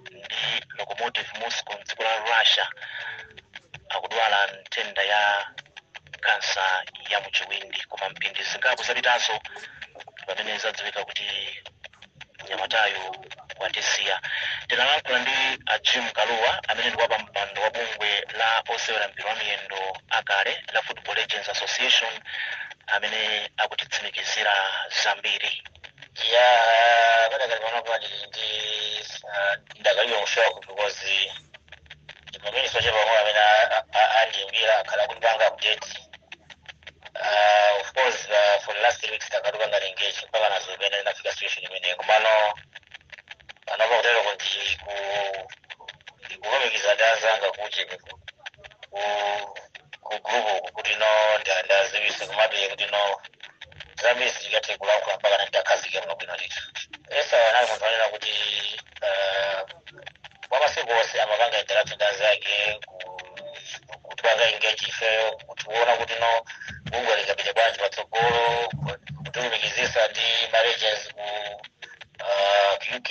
ndi lokomotiv moscow mdziko la russia akudwala nthenda ya kansa ya muchiwindi koma mphindi zingapo zapitazo pamene zadziwika kuti mnyamatayo watisiya tinalankhula ndi a jim kalua amene ndi wapampando wa bungwe la osewera mpira wa miyendo akale la football legends association amene akutitsimikizira zambiri ya padakali pano pali ndi ah, ndakali mu shock because pamene soche pamwe amene a- a- a- andiimbira akhala akutipanga update Ah, of course ah, for the last three weeks takhala tikupanga engage mpaka nazo pena linafika situation imene komano panopa kutero kuti ku ndikulumikiza ndi anzanga kuti ku ku group uku kuti no nda- ndaziwisa komabe kuti no zambiri sindingathe kulankhula mpaka nitakhazike muno bwino ndithu esau anali munthu anena kuti eh, kwa masiku onse amapanga interaction ndi anzake ku- kutipanga engage ifeyo kutiona kuti no bungwe lingapite bwanji patsogolo kutilumikizisa ndi ma legends ku eh, uk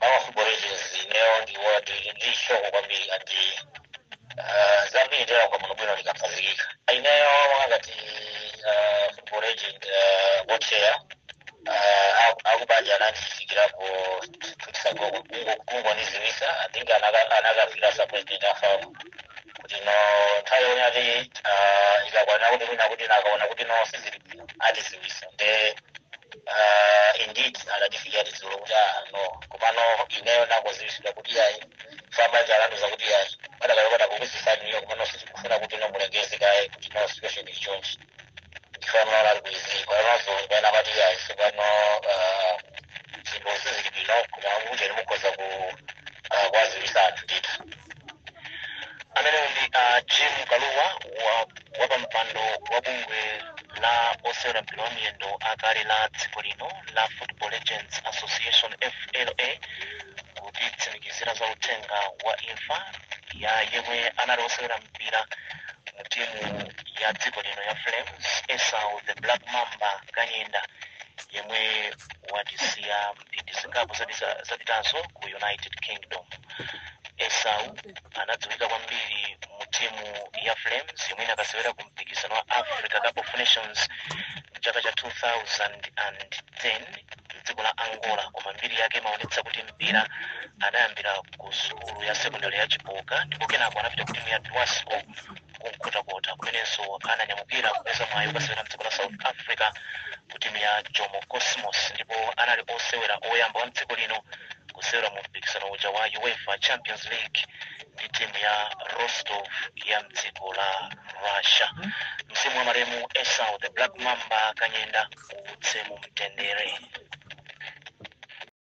a football legends ineyo ndi wati ndi shock kwambiri ati ah, zambiri ndera kwa muno bwino ndikakhazikika ineyo ngati football legends wa chair akubanja anandifikira ku two days ago kungoniziwisa i think anaka- anakafika sa president a fam kuti no nthawi yone ati ah, ikakwana kuti mwina kuti nakaona kuti no sizili bwino atiziwisa nde Ah, indeed anatifikira dzulo kuti ah, no komano ineyo nakaziwisidwa kuti yayi apabanja anandiuza kuti yayi padakalokota kukuziwisani inuyo komano sitikufuna kuti no mulengeze kaye kuti no situation ili chonchi ndifanola ali kuiziyi panozo pena pati yayi sopano ah, zinthu sizili bwino koma kuti no mukhoza ku ah, kuwaziwisa anthu ndithu amene ndi ah, jim kalua wa wapampando wa bungwe la osewera mpira wa miyendo akale la dziko lino la football legends association fla kutitsimikizira za uthenga wa imfa ya yemwe anali osewera mpira mu timu ya dziko lino ya flames esau the black mamba kanyenda yemwe watisiya mphindi zingapo zapita- zapitazo ku united kingdom esau anadziwika kwambiri mu timu ya flames yomwe inakasewera ku mpikisano wa africa cup of nations mchaka cha 2010 mdziko la angola koma mbiri yake imaonetsa kuti mpira anayambira ku sukulu ya sekondari ya chipoka ndipo kenako anapita ku timu ya dwasco kumkhotakota kumenenso ananyamukira kupeza mwayi okasewera mdziko la south africa ku timu ya jomo cosmos ndipo anali osewera oyamba wa mdziko lino kusewera mu mpikisano uja wa uefa champions league ndi timu ya rostov ya mdziko la russia mzimu wa malemu esau the black mamba kanyenda uwuse mu mtendere